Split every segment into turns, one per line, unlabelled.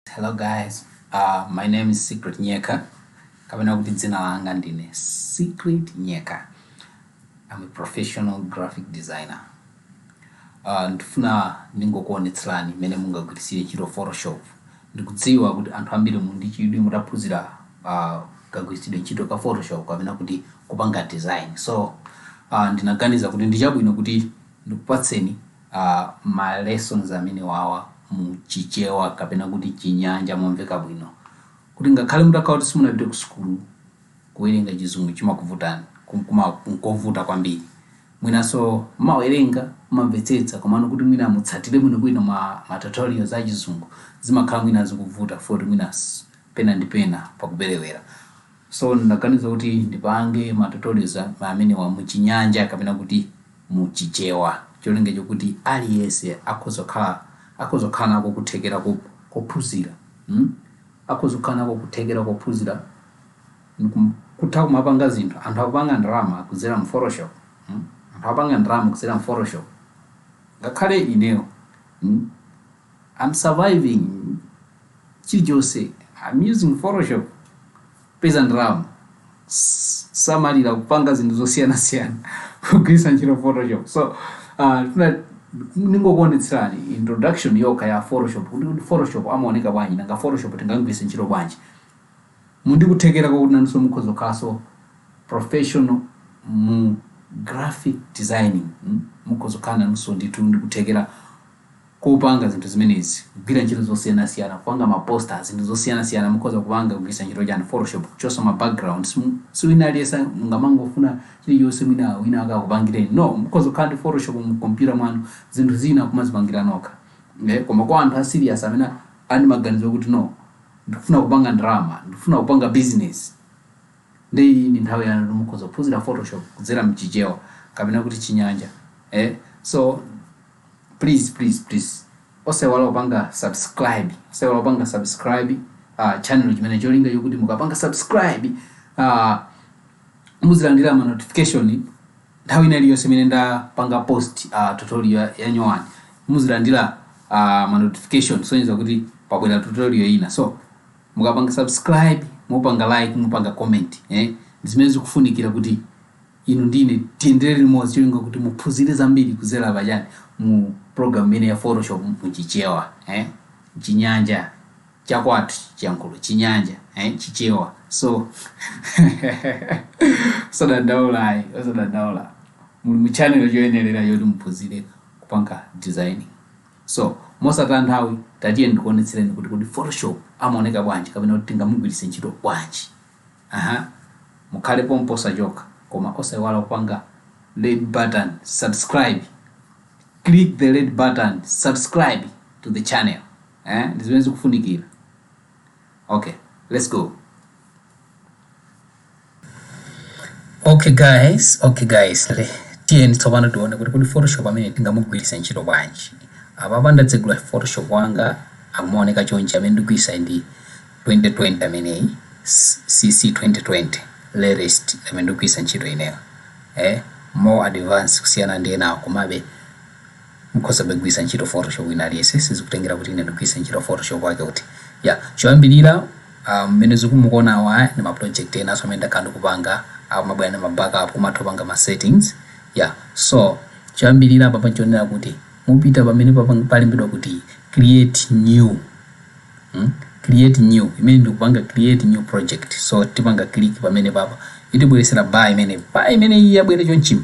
Hello guys, uh, my name is Secret Nyeka kapena kuti dzina langa ndine Secret Nyeka. I'm a professional graphic designer. Uh, ndifuna ndingokuonetserani mmene mungagwiritsire ntchito Photoshop. Ndikudziwa kuti anthu ambiri muli ndi chidwi mutaphunzira uh, kagwiritsidwe ntchito ka Photoshop kapena kuti kupanga design. So uh, ndinaganiza kuti ndi chabwino kuti ndikupatseni a ma lessons amenewawa mu chichewa kapena kuti chinyanja momveka bwino kuti ngakhale mutakhala kuti simunapite ku sukulu kuwerenga chizungu chimakuvutani kum- kuma nkovuta kwambiri mwinanso mmawerenga mmamvetsetsa komano kuti mwina mutsatire bwinobwino ma, ma tutorials a chizungu zimakhala mwina zikuvuta futi mwina s- pena ndi pena pakuperewera So ndinaganiza kuti ndipange ma tutorials amenewa mu chinyanja kapena kuti mu chichewa cholinga chokuti aliyense akhoza kukhala akhoza kukhala nako kuthekera kophunzira akhoza kukhala nako kuthekera kophunzira kutha kumapanga zinthu anthu akupanga ndalama kudzera mu photoshop anthu akupanga ndalama kudzera mu photoshop ngakhale ineyo I'm surviving chilichonse I'm using photoshop kupeza ndalama samalira kupanga zinthu zosiyanasiyana kugwiritsa ntchito photoshop so uh, tuna- ndingokuonetserani introduction yokha ya photoshop kuti kuti photoshop amaoneka bwanji nanga photoshop tingagwiritse ntchito bwanji muli ndi kuthekera kwakuti nanso mukhoza kukhalanso professional mu graphic designing mm? mukhoza kukhala nanso ndithu ndikuthekera kupanga zinthu zimenezi, kugwira ntchito zosiyanasiyana, kupanga ma poster, zinthu zosiyanasiyana mukhoza kupanga kugwiritsa ntchito chani, photoshop, kuchosa ma backgrounds, si wina aliyense mungamangofuna chilichonse mwina wina wake akupangireni no, mukhoza kukhala ndi photoshop mu computer mwanu, zinthu zina kumazipangira nokha, nde koma kwa anthu a serious amene ali ndi maganizo okuti no, ndikufuna kupanga ndalama, ndikufuna kupanga business, nde iyi ndi nthawi yanu yoti mukhoza kuphunzira photoshop kudzera mchichewa kapena kuti chinyanja, so. Please please please osaiwala kupanga subscribe osaiwala kupanga subscribe uh, channel chimene cholinga chokuti mukapanga subscribe uh, muzilandira ma notification nthawi ina iliyonse imene ndapanga post uh, tutorial ya- ya nyowani muzilandira uh, ma notification sonyeza kuti pabwera tutorial ina so mukapanga subscribe mupanga like mupanga comment eh, zimene zikufunikira kuti inu ndi ine tiyendere limodzi cholinga kuti muphunzire zambiri kudzera pa chani mu program imene ya photoshop mu chichewa eh? chinyanja chakwathu chiyankhulo chinyanja eh? chichewa so osadandaula ayi osadandaula muli mu channel choyenerera yoti muphunzire kupanga design so mosataya nthawi tatiyeni ndikuonetsereni kuti kuti photoshop amaoneka bwanji kapena kuti tingamugwiritse ntchito bwanji Aha, mukhale pompo osachoka koma osaiwala kupanga red button subscribe click the red button subscribe to the channel eh ndi zimene zikufunikira okay let's go okay guys okay guys le tiyeni tsopano tione kuti kodi photoshop amene tingamugwiritsa ntchito bwanji apapa ndatsegula photoshop wanga akumaoneka chonchi amene ndikugwiritsa ndi 2020 ameneyi CC 2020 latest amene ndikugwiritsa ntchito ineyo eh more advanced kusiyana ndi enawo komabe mukhozabe kugwiritsa ntchito photoshop wina aliyense sizikutengera kuti ine ndigwiritse ntchito photoshop wake uti so choyambirira ah, mmene mukuona awa aya ndi ma project enanso amene ndakhala ndikupanga akumabwera ndi ma backup kumatha kupanga ma settings ya so choyambirira apa panchionera kuti umapita pamene papang- palembedwa kuti create new create new imene ndikupanga create new project so tipanga click pamene papa itibweresera bar imene bar imene iyi yabwera chonchima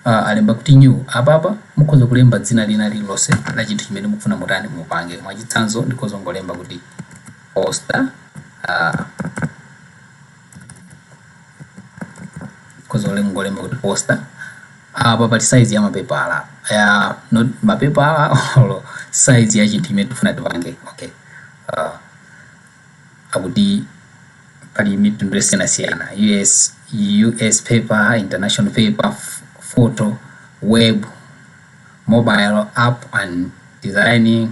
uh, alemba kuti new apapa mukhoza kulemba dzina lina lililonse la chinthu chimene mukufuna mutani mupange mwachitsanzo ndikhoza kungolemba kuti poster uh, ukhoza olo kungolemba kuti poster apa pali size ya mapepala ya not mapepala or size ya chinthu chimene tifuna tipange okay uh, akuti pali mitundu yosiyanasiyana us us paper international paper f- photo web mobile app and designing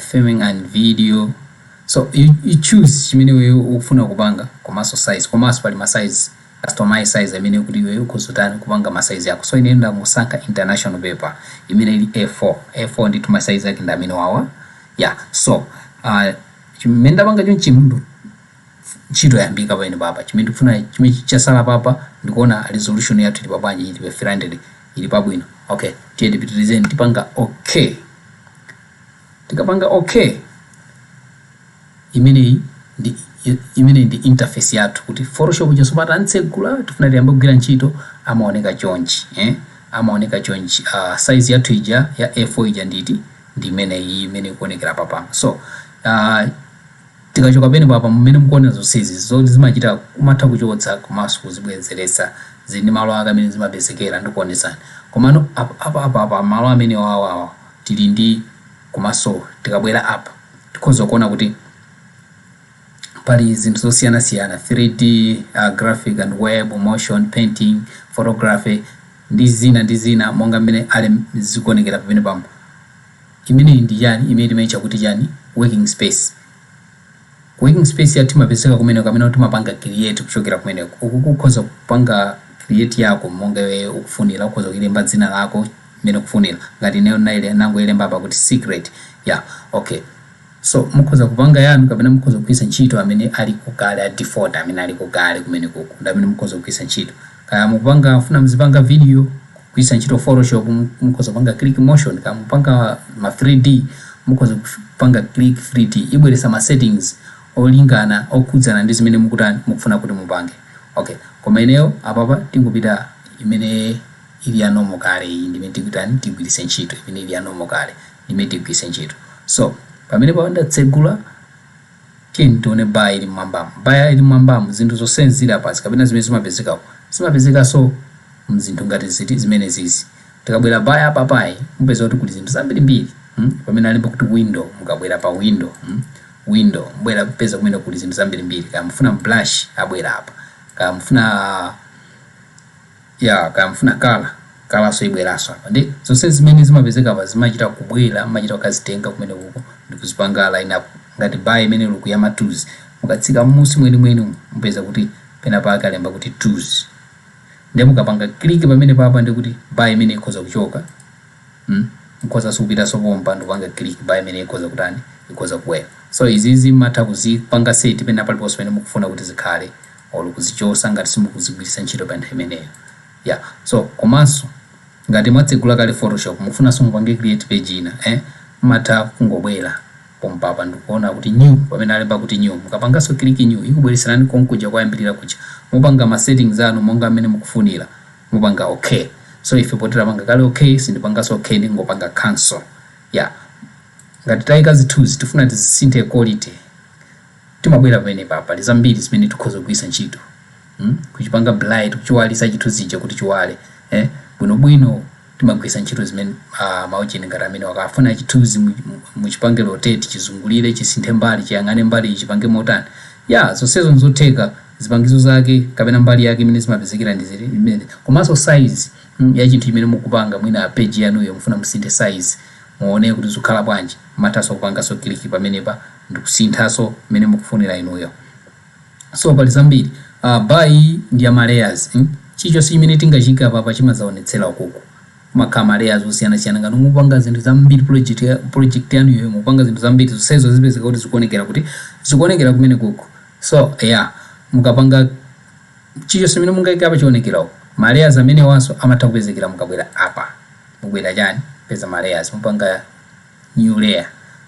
filming and video so you you choose chimene iweyo ukufuna kupanga komanso size komanso pali ma size customize size amene kuti iweyo ukhoza kutani kupanga ma size ako so ineyo ndimasankha international paper imene ili A4 A4 ndithu ma size ake ndi amene wawa yeah so uh, chimene ndapanga chonchi mndu ntchito yayambika pamene papa chimene tikufuna chimene chasala papa ndikuona resolution yathu ili pabwanji ili pa three hundred ili pabwino okay tiye tipitirizeni tipanga okay tikapanga okay imeneyi ndi imene ndi interface yathu kuti photoshop cha tsopano tatsegula tifuna tiyambe kugwira ntchito amaoneka chonchi eh amaoneka chonchi uh, size yathu ija ya a4 ija nditi ndi imeneyi imene ikuonekera papa so uh, Tikachoka pamenepapa mmene mukuonera zonsezi zoti zimachita kumatha kuchotsa komanso kuzibwezeretsa zili ndi malo ake amene zimapezekera ndikuonetsani komano apa apa apa malo amenewawa awa tili ndi komanso tikabwera apa tikhoza kuona kuti pali zinthu zosiyanasiyana 3D graphic and web motion painting photography ndi zina ndi zina monga mmene alem zikuonekera pamenepamo Imeneyi ndi chani imene timaitcha kuti chani working space. Working space yathu imapezeka kumeneko kamene timapanga create kuchokera kumeneko. Ukuku ukhoza kupanga create yako monga iweyo ukufunira. Ukhoza kuilemba dzina lako mmene ukufunira. Ngati ineyo ndinaile ndinangoilemba apa kuti secret. Yeah, okay. So mukhoza kupanga yanu kapena mukhoza kugwiritsa ntchito amene aliko kale a default amene aliko kale kumenekoko ndi amene mukhoza kugwiritsa ntchito. Kaya mukupanga mufuna muzipanga video kugwiritsa ntchito photoshop mukhoza kupanga click motion kaya mukupanga ma 3D mukhoza kupanga click 3D ibweretsa ma settings olingana okhudzana ndi zimene mukutani mukufuna kuti mupange. Okay koma ineyo apapa tingosiya imene ili ya normal kale iyi ndi imene tikutani tigwiritse ntchito imene ili ya normal kale. imene tigwiritse ntchito. So, pamene pa ndatsegula, tiyeni tione bar ili m'mwambamu. Bar ili m'mwambamu, zinthu zonse zili apazi, kapena zimene zimapezeka umu, zimapezekanso m'zinthu ngati ziti, zimenezizi. Tikabwera bar ya apapayi, mupeza kuti kuli zinthu zambiri mbiri. Hmm, pamene alemba kuti window, mukabwera pa window, hmm, window, mubwera kupeza kumeneko kuli zinthu zambiri mbiri. Kaya mufuna brush, abwera apa. Kaya mufuna. Yaa kaya mufuna color colorso ibweraso apa nde zonsezi zimene zimapezeka apa zimachita kubwera mumachita kukazitenga kumenekoko ndikuzipanga line up ngati bar imene ili uku ya ma tools mukatsika mmusi mwenimweni umu mupeza kuti penapake alemba kuti tools nde mukapanga click pamenepapa ndekuti bar imene ikhoza kuchoka mm mukhozaso kupitaso pompa ndikupanga click bar imene ikhoza kutani ikhoza kubwera so izizi mmatha kuzipanga set penapaliponse pamene mukufuna kuti zikhale olo kuzichosa ngati simukuzigwiritsa ntchito pa nthawi imeneyo yeah so komanso ngati mwatsegula kale photoshop mukufunanso mupange create page ina eh mmatha kungobwera pompapa ndikuona kuti new pamene alemba kuti new mukapanganso click new ikubweretserani konkuja koyambirira kuja mupanga ma settings anu monga mmene mukufunira mupanga okay so ife poti tapanga kale okay sindipanganso okay ndingopanga cancel yeah ngati taika zithunzi tifuna tizisinthe quality Timabwera pamenepa pali zambiri zimene tikhoza kugwiritsa ntchito mm kuchipanga bright kuchiwalisa chithunzi chija kuti chiwale eh bwinobwino timagwiritsa ntchito zimen ma option ngati amenewa kaya mufuna chithunzi mu muchipange rotate chizungulire chisinthe mbali chiyang'ane mbali iyi chipange motani yeah zonsezo nzotheka zipangizo zake kapena mbali yake imene zimapezekera ndi ziti ndi zimenezi komanso size mm ya chinthu chimene mukupanga mwina page yanuyo mufuna musinthe size muone kuti zikukhala bwanji mmathanso kupanganso click pamenepa ndikusinthaso mmene mukufunira inuyo so pali zambiri aah bar iyi ndi ya ma layers mm chilichonse chimene tingachiike apapa chimadzaonetsera ukuku kumakhala ma layers osiyanasiyana ngati mukupanga zinthu zambiri project project yanuyo mukupanga zinthu zambiri zonsezo zipezeka kuti zikuonekera kuti? zikuonekera kumenekuku so yeah mukapanga chilichonse chimene mungaike apa chionekera uku ma layers amenewanso amatha kupezekera mukabwera apa mubwera chani peza ma layers mupanga New layer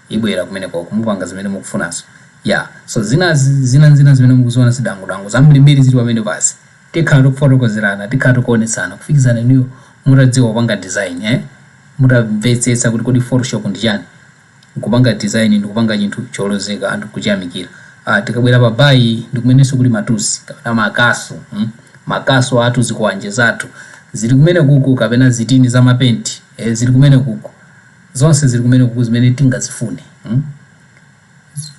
ibwera kumenekoko mukupanga zimene mukufunazo yeah so zinazi zinazina zimene mukuziona zidangudangu zambirimbiri zili pamenepazi tikhala tikufotokozerana tikhala tikuonetsana kufikizana inuyo mutadziwa kupanga design eh mutamvetsetsa kuti kodi photoshop ndi chani nkupanga design ndikupanga chinthu cholozeka anthu nkuchiyamikira ah tikabwera pa bar iyi ndikumenenso kuli ma tools kapena makasu mm makasu athu zikwanje zathu zili kumenekuku kapena zitini za mapenti eh zili kumenekuku zonse zili kumene kuku zimene tingazifune mm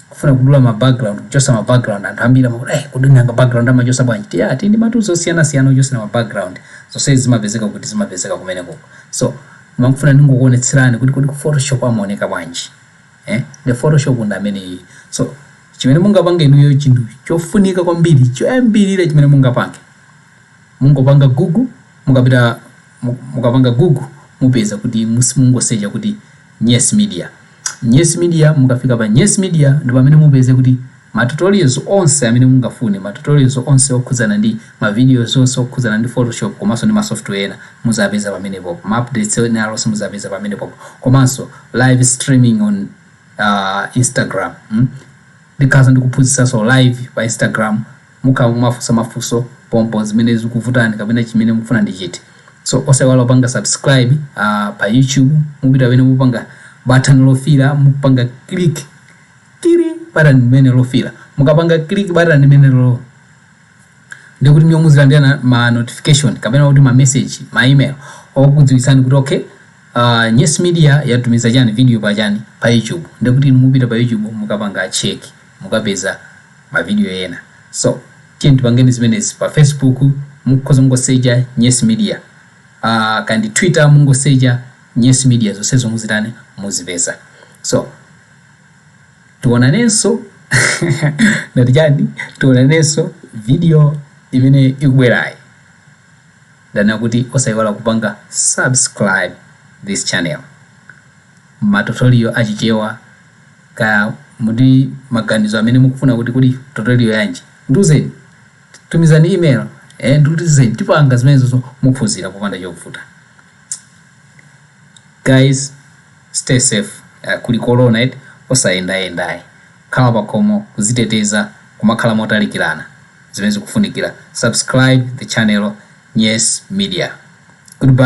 kufuna kudula ma background kuchosa ma background anthu ambiri amakuti eh kodi nanga background amachosa bwanji tili ndi ma tools osiyana siyana ochosera ma background zonse zimapezeka kuti zimapezeka kumene kuku so ndimafuna ndingokuonetserani kuti kodi ku photoshop kumaoneka bwanji eh the photoshop ndi ameneyi so chimene mungapange inuyo chinthu chofunika kwambiri choyambirira chimene mungapange Mungopanga google mukapita mukapanga google mupeza kuti mungosecha kuti nyes media nyes media mukafika pa nyes media ndi pamene mupeze kuti ma tutorials onse amene mungafune ma tutorials onse okhudzana ndi ma videos onse okhudzana ndi photoshop komanso ndi ma software ena muzapeza pamene popo ma updates ena alionse muzapeza pamene popo komanso live streaming on instagram ndikhala ndikuphunzitsanso live pa instagram Mukhala mukumafunsa mafunso pompo zimene zikuvutani kapena chimene mukufuna ndi chiti so osaiwala kupanga subscribe pa YouTube mupita pamene mupanga batani lofiira mupanga click batani limene lofiira mukapanga click batani limenelolo ndiye kuti inuyo muzilandira ma notification kapena kuti ma message ma email okudziwitsani kuti okay Nyes Media yatumiza chani video pa chani pa YouTube ndiye kuti inu mupita pa YouTube mukapanga check mukapeza ma video ena so tiyeni tipangeni zimenezi pa Facebook mukhoza mungosecha nyes media aah kaya ndi twitter mungosecha nyes media zonsezo muzitani muzipeza so tionanenso ndati chani tionanenso video imene ikubwerayi ndanena kuti osayiwala kupanga subscribe this channel. matutorial a Chichewa kaya muli ndi maganizo amene mukufuna kuti kodi tutorial yanji ndiuzeni tumizani email eh ndiuzeni tipanga zimenezozo muphunzira popanda chovuta guys stay safe uh, kuli corona eti osayendayenda ayi khala pakhomo kuziteteza kumakhala motalikirana zimene zikufunikira subscribe the channel nyes media goodbye